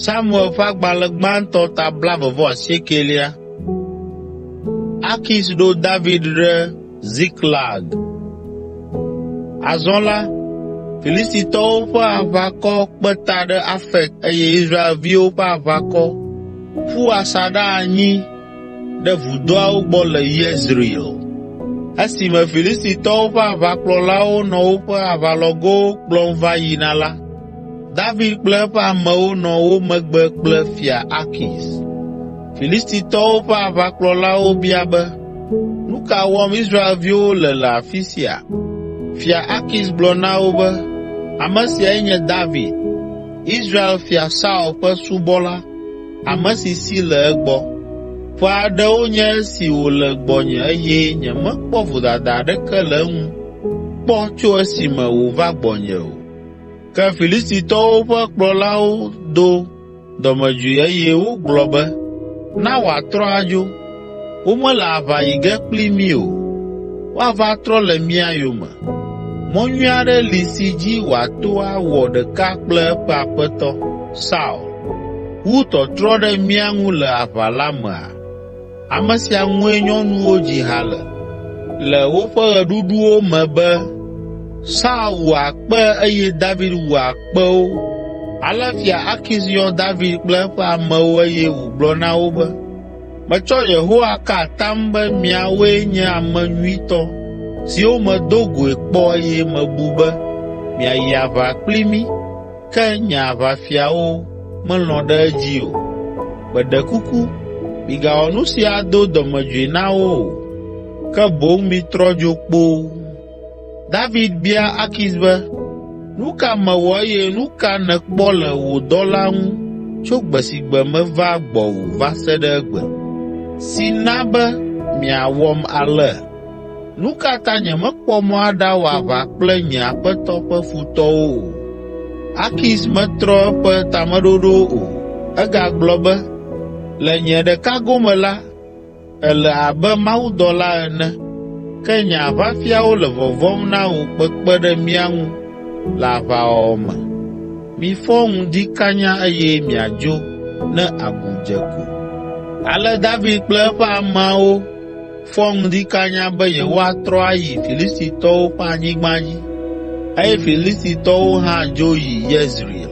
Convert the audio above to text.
Samuel ƒe agbalẽ gbãtɔ ta blaeve vɔ asiekɛlia. Akis ɖo David ɖe Ziklag. Azɔ la, Filistitɔwo ƒe aʋakɔ kpe ta ɖe Afek eye Israelviwo ƒe aʋakɔ ƒu asaɖa anyi ɖe vudoawo gbɔ le Yezreel. Esime Filistitɔwo ƒe aʋakplɔlawo nɔ woƒe aʋalɔgowo kplɔm va yina la, David kple eƒe amewo nɔ wo megbe kple Fia Akis. Filistitɔwo ƒe aʋakplɔlawo bia be, “Nu ka wɔm Israelviwo le le afi sia?” Fia Akis gblɔ na wo be, “Ame siae nye David, Israel fia Saul ƒe subɔla.” ame si si le egbɔ. Ƒe aɖewo nye esi wòle gbɔnye eye nyemekpɔ vodada aɖeke le eŋu kpɔ tso esime wòva gbɔnye o. Ke Filistitɔwo ƒe kplɔlawo do dɔmedzoe eye wogblɔ be, “Na wòatrɔ adzo.” Womele aʋa yi ge kpli mí o, woava trɔ le mía yome. Mɔ nyui aɖe li si dzi wòato awɔ ɖeka kple eƒe aƒetɔ, Saul, wu tɔtrɔ ɖe mía ŋu le aʋa la mea? Ame sia ŋue nyɔnuwo dzi ha le, le woƒe ɣeɖuɖuwo me be, ‘Saul wu akpe eye David wu akpewo.’ ” Ale Fia Akis yɔ David kple eƒe amewo eye wògblɔ na wo be, Metsɔ Yehowa ka atam be miawoe nye ame nyuitɔ siwo medo goe kpɔ eye mebu be miayi aʋa kpli mí, ke nye aʋafiawo melɔ̃ ɖe edzi o. Meɖe kuku, migawɔ nu si ado dɔmedzoe na wo o, ke boŋ mitrɔ dzo kpoo!” David bia Akis be, “Nu ka mewɔ eye nu ka nèkpɔ le wò dɔla ŋu tso gbe si gbe meva gbɔwò va se ɖe egbe, si na be miawɔm ale? Nu ka ta nyemekpɔ mɔ aɖawɔ aʋa kple nye aƒetɔ ƒe futɔwo o?” Akis metrɔ eƒe tameɖoɖo o, egagblɔ be, “Le nye ɖeka gome la, Èle abe mawudɔla ene, ke nye aʋafiawo le vɔvɔ̃m na wò kpekpe ɖe mía ŋu le aʋawɔwɔ me. Mifɔ ŋdi kanya eye miadzo ne agu dze ko!” Ale David kple eƒe ameawo fɔ ŋdi kanya be yewoatrɔ ayi Filistitɔwo ƒe anyigba dzi eye Filistitɔwo hã dzo yi Yezreel.